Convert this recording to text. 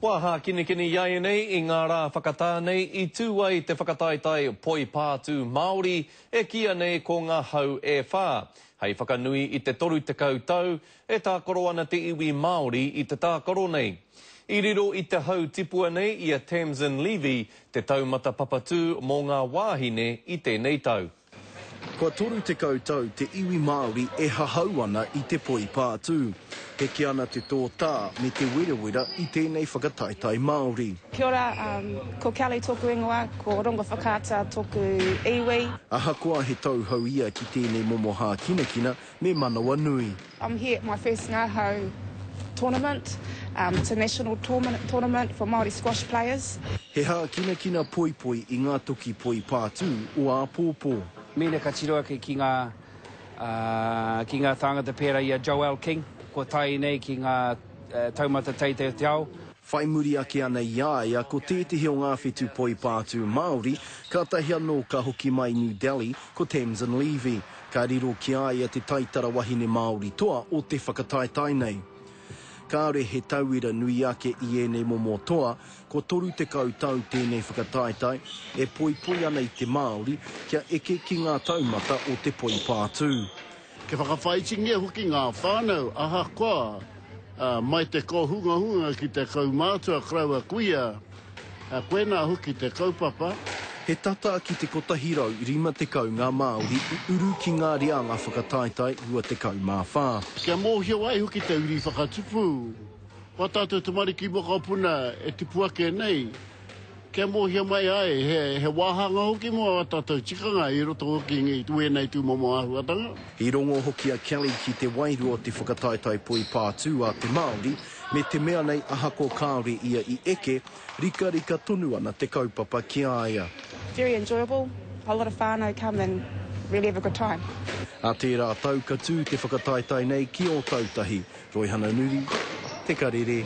Kua hākinakina iaianei i ngā rā whakatā nei i tū ai te whakataetae Poi Pātū Māori e kīia nei ko Ngā Hau e Whā. Hei whakanui i te 30 tau, e tākaro ana te iwi Māori i te tākaro nei. I riro i te hau tipua nei i a Tamsin Levy, te taumata papatū mō ngā wāhine i tēnei tau. Kua 30 tau te iwi Māori e hahau ana i te poipātū. Heke ana te tōtā me te werawera i tēnei whakataetae Māori. Kia ora, ko Kelly tōku ingoa, ko Rongowhakaata tōku iwi. Ahakoa he tauhou ia ki tēnei momo hākinakina, me Manawanui. I'm here at my first ngahau tournament, it's a national tournament for Māori squash players. He hākinakina poipoi i ngā toki poi pātū o āpōpō. Mēnā ka tiro ake ki ngā ki ngā tāngata pērā i a Joelle King kua tae nei ki ngā taumata teitei o te ao. Whai muri ake ana i a ia ko tētehi o ngā whetū poipātū Māori, kātahi anō ka hoki mai New Delhi, ko Tamsin Levy. Ka riro ki a ia te taitara wahine Māori toa o te whakataetae nei. Kāore he tauira nui ake i ēnei momo toa, kua 30 tau tēnei whakataetae, e poipoi ana i te Māori kia eke ki ngā taumata o te poipātū. Kia whakawhāitingia hoki ngā whānau ahakoa mai te kōhungahunga ki te kaumātua karaua kuia, koinā hoki te kaupapa. He tata ki te 150 ngā Māori i uru ki ngā reanga whakataetae 24. Kia mōhio ai hoki te uri whakatupu, ko ā tātou tamariki mokopuna e tipu ake nei, Kia mōhio mai ai, he wāhanga hoki mō ā tātou tikanga i roto hoki i wēnei tūmomo āhuatanga. I rongo hoki a Kelly ki te wairua o te whakataetae poipātū a te Māori, me te mea nei ahako kāore ia i eke, rikarika tonu ana te kaupapa ki a ia. Very enjoyable, a lot of whānau come and really have a good time. Nā tērā tau ka tū te whakataetae nei ki Ōtautahi, Roihana Nuri, Te Karere.